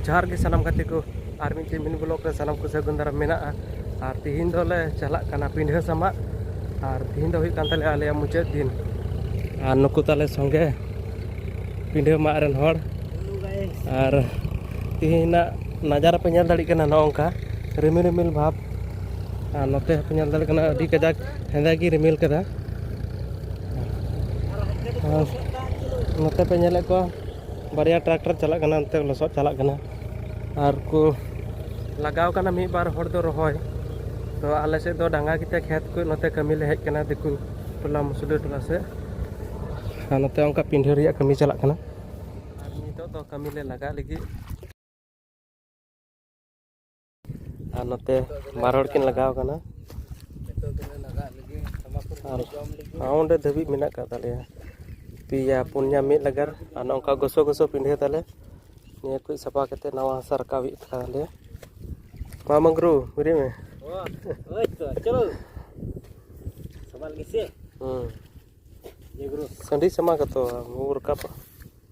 ᱡᱚᱦᱟᱨ ᱜᱮ ᱥᱟᱱᱟᱢ ᱜᱟᱛᱮ ᱠᱚ ᱟᱨ ᱢᱤᱫ ᱪᱮᱢᱤᱱ ᱵᱞᱚᱠ ᱨᱮ ᱥᱟᱱᱟᱢ ᱠᱚ ᱥᱟᱹᱜᱩᱱ ᱫᱟᱨᱟᱢ ᱢᱮᱱᱟᱜᱼᱟ ᱟᱨ ᱛᱤᱦᱤᱧ ᱫᱚᱞᱮ ᱪᱟᱞᱟᱜ ᱠᱟᱱᱟ ᱯᱤᱰᱷᱟᱹ ᱥᱟᱢᱟᱜ ᱟᱨ ᱛᱤᱦᱤᱧ ᱫᱚ ᱦᱩᱭᱩᱜ ᱠᱟᱱ ᱛᱟᱞᱮᱭᱟ ᱟᱞᱮᱭᱟᱜ ᱢᱩᱪᱟᱹᱫ ᱫᱤᱱ ᱟᱨ ᱱᱩᱠᱩ ᱛᱟᱞᱮ ᱥᱚᱸᱜᱮ ᱯᱤᱰᱷᱟᱹ ᱢᱟᱜ ᱨᱮᱱ ᱦᱚᱲ ᱟᱨ ᱛᱤᱦᱤᱧᱟᱜ ᱱᱟᱡᱟᱨᱟ ᱯᱮ ᱧᱮᱞ ᱫᱟᱲᱮᱭᱟᱜ ᱠᱟᱱᱟ ᱱᱚᱝᱠᱟ ᱨᱤᱢᱤᱞ ᱨᱤᱢᱤᱞ ᱵᱷᱟᱵᱽ ᱟᱨ ᱱᱚᱛᱮ ᱦᱚᱸᱯᱮ ᱧᱮᱞ ᱫᱟᱲᱮᱭᱟᱜ ᱠᱟᱱᱟ ᱟᱹᱰᱤ ᱠᱟᱡᱟᱠ ᱦᱮᱸᱫᱮ ᱜᱮ ᱨᱤᱢᱤᱞ ᱠᱟᱫᱟ ᱱᱚᱛᱮ ᱯᱮ ᱧᱮᱞᱮᱫ ᱠᱚᱣᱟ ᱵᱟᱨᱭᱟ ᱴᱨᱟᱠᱴᱟᱨ ᱪᱟᱞᱟᱜ ᱠᱟᱱᱟ ᱚᱱᱛᱮ ᱞᱚᱥᱚᱫ ᱪᱟᱞᱟᱜ ᱠᱟᱱᱟ ᱟᱨ ᱠᱚ ᱞᱟᱜᱟᱣ ᱠᱟᱱᱟ ᱢᱤᱫ ᱵᱟᱨ ᱦᱚᱲ ᱫᱚ ᱨᱚᱦᱚᱭ ᱛᱚ ᱟᱞᱮ ᱥᱮᱫ ᱫᱚ ᱰᱟᱸᱜᱟ ᱜᱮᱛᱮ ᱠᱷᱮᱛ ᱠᱚ ᱱᱚᱛᱮ ᱠᱟᱹᱢᱤ ᱞᱮ ᱦᱮᱡ ᱠᱟᱱᱟ ᱫᱤᱠᱩ ᱴᱚᱞᱟ ᱢᱩᱥᱞᱟᱹ ᱴᱚᱞᱟ ᱥᱮᱫ ᱟᱨ ᱱᱚᱛᱮ ᱚᱱᱠᱟ ᱯᱤᱸᱰᱷᱟᱹ ᱨᱮᱭᱟᱜ ᱠᱟᱹᱢᱤ ᱪᱟᱞᱟᱜ ᱠᱟᱱᱟ ᱟᱨ ᱱᱤᱛᱚᱜ ᱫᱚ ᱠᱟᱹᱢᱤ ᱞᱮ ᱞᱟᱜᱟᱜ ᱞᱟᱹᱜᱤᱫ ᱟᱨ ᱱᱚᱛᱮ ᱵᱟᱨ ᱦᱚᱲ ᱠᱤᱱ ᱞᱟᱜᱟᱣ ᱠᱟᱱᱟ ᱟᱨ ᱚᱸᱰᱮ ᱫᱷᱟᱹᱵᱤᱡ ᱢᱮᱱᱟᱜ ᱟᱠᱟᱫ ᱛᱟᱞᱮᱭᱟ ᱯᱮᱭᱟ ᱯᱩᱱᱭᱟ ᱢᱤᱫ ᱞᱟᱜᱟᱨ ᱟᱨ ᱱᱚᱝᱠᱟ ᱜᱚᱥᱚ ᱜᱚᱥᱚ ᱯᱤᱰᱷᱟᱹ ᱛᱟᱞᱮ ᱱᱤᱭᱟᱹ ᱠᱚ ᱥᱟᱯᱷᱟ ᱠᱟᱛᱮ ᱱᱟᱣᱟ ᱦᱟᱥᱟ ᱨᱟᱠᱟᱵ ᱦᱩᱭᱩᱜ ᱛᱟᱞᱮᱭᱟ ᱢᱟ ᱢᱟᱝᱜᱽᱨᱩ ᱵᱩᱨᱤ ᱢᱮ ᱦᱮᱸ ᱥᱟᱺᱰᱤ ᱥᱟᱢᱟ ᱠᱟᱛᱚ ᱨᱟᱠᱟᱵ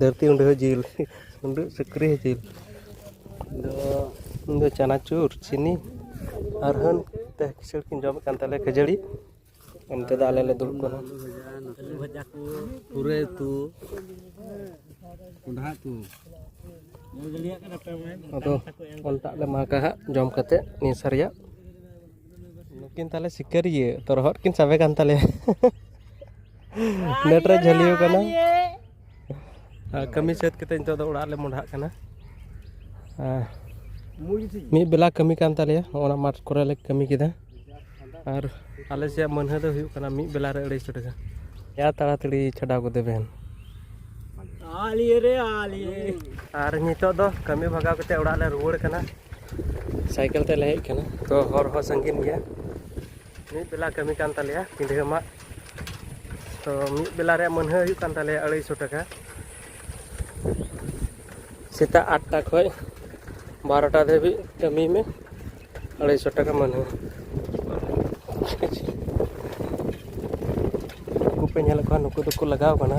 ᱫᱷᱟᱹᱨᱛᱤ ᱩᱰᱟᱹ ᱦᱚᱸ ᱡᱤᱞ ᱩᱰᱟᱹᱜ ᱥᱩᱠᱨᱤ ᱦᱚᱸ ᱡᱤᱞ ᱟᱫᱚ ᱤᱧ ᱫᱚ ᱪᱟᱱᱟᱪᱩᱨ ᱪᱤᱱᱤ ᱟᱨ ᱦᱟᱹᱱ ᱛᱮ ᱠᱤᱥᱟᱹᱬ ᱠᱤᱱ ᱡᱚᱢᱮᱫ ᱠᱟᱱ ᱛᱟᱞᱮᱭᱟ ᱠᱷᱟᱹᱡᱟᱹᱲᱤ ᱚᱱᱛᱮ ᱫᱚ ᱟᱞᱮ ᱞᱮ ᱫᱩᱲᱩᱵ ᱠᱟᱱᱟ ᱟᱹᱞᱩ ᱵᱷᱟᱡᱟ ᱠᱚ ᱯᱩᱨᱟᱹᱭ ᱩᱛᱩ ᱠᱚᱸᱰᱷᱟ ᱩᱛᱩ ᱟᱫᱚ ᱚᱱᱴᱟᱜ ᱞᱮ ᱢᱟᱜᱟ ᱦᱟᱸᱜ ᱡᱚᱢ ᱠᱟᱛᱮᱫ ᱱᱤᱭᱟᱹ ᱥᱟᱨᱭᱟ ᱱᱩᱠᱤᱱ ᱛᱟᱦᱚᱞᱮ ᱥᱤᱠᱟᱹᱨᱤᱭᱟᱹ ᱛᱚᱨᱦᱚᱫ ᱠᱤᱱ ᱥᱟᱵᱮ ᱠᱟᱱ ᱛᱟᱞᱮᱭᱟ ᱱᱮᱴ ᱨᱮ ᱡᱷᱟᱹᱞᱤᱭᱟᱹ ᱠᱟᱱᱟ ᱠᱟᱹᱢᱤ ᱥᱟᱹᱛ ᱠᱟᱛᱮ ᱱᱤᱛᱚᱜ ᱫᱚ ᱚᱲᱟᱜ ᱞᱮ ᱢᱚᱰᱷᱟᱜ ᱠᱟᱱᱟ ᱢᱤᱫ ᱵᱮᱞᱟ ᱠᱟᱹᱢᱤ ᱠᱟᱱ ᱛᱟᱞᱮᱭᱟ ᱚᱱᱟ ᱢᱟᱴᱷ ᱠᱚᱨᱮ ᱞᱮ ᱠᱟᱹᱢᱤ ᱠᱮᱫᱟ ᱟᱨ ᱟᱞᱮ ᱥᱮᱭᱟᱜ ᱢᱟᱹᱱᱦᱟᱹ ᱫᱚ ᱦᱩᱭᱩᱜ ᱠᱟᱱᱟ ᱢᱤᱫ ᱵᱮᱞᱟ ᱨᱮ ᱟᱹᱲᱟᱹᱭᱥᱚ ᱴᱟᱠᱟ ᱭᱟ ᱛᱟᱲᱟᱛᱟᱹᱲᱤ ᱪᱷᱟᱰᱟᱣ ᱜᱚᱫᱮ ᱵᱮᱱ ᱟᱨ ᱱᱤᱛᱚᱜ ᱫᱚ ᱠᱟᱹᱢᱤ ᱵᱷᱟᱜᱟᱣ ᱠᱟᱛᱮ ᱚᱲᱟᱜ ᱞᱮ ᱨᱩᱣᱟᱹᱲ ᱠᱟᱱᱟ ᱥᱟᱭᱠᱮᱞ ᱛᱮᱞᱮ ᱦᱮᱡ ᱠᱟᱱᱟ ᱛᱚ ᱦᱚᱨ ᱦᱚᱸ ᱥᱟᱺᱜᱤᱧ ᱜᱮᱭᱟ ᱢᱤᱫ ᱵᱮᱞᱟ ᱠᱟᱹᱢᱤ ᱠᱟᱱ ᱛᱟᱞᱮᱭᱟ ᱯᱤᱰᱷᱟᱹ ᱢᱟᱜ ᱛᱚ ᱢᱤᱫ ᱵᱮᱞᱟ ᱨᱮᱭᱟᱜ ᱢᱟᱹᱱᱦᱟᱹ ᱦᱩᱭᱩᱜ ᱠᱟᱱ ᱛᱟᱞᱮᱭᱟ ᱟᱹᱲᱟᱹᱭᱥᱚ ᱴᱟᱠᱟ ᱥᱮᱛᱟᱜ ᱟᱴᱴᱟ ᱠᱷᱚᱡ ᱵᱟᱨᱚᱴᱟ ᱫᱷᱟᱹᱵᱤᱡ ᱠᱟᱹᱢᱤ ᱢᱮ ᱟᱲᱟᱭᱥᱚ ᱴᱟᱠᱟ ᱢᱟᱱᱮ ᱱᱩᱠᱩ ᱯᱮ ᱧᱮᱞᱮᱫ ᱠᱚᱣᱟ ᱱᱩᱠᱩ ᱫᱚᱠᱚ ᱞᱟᱜᱟᱣ ᱠᱟᱱᱟ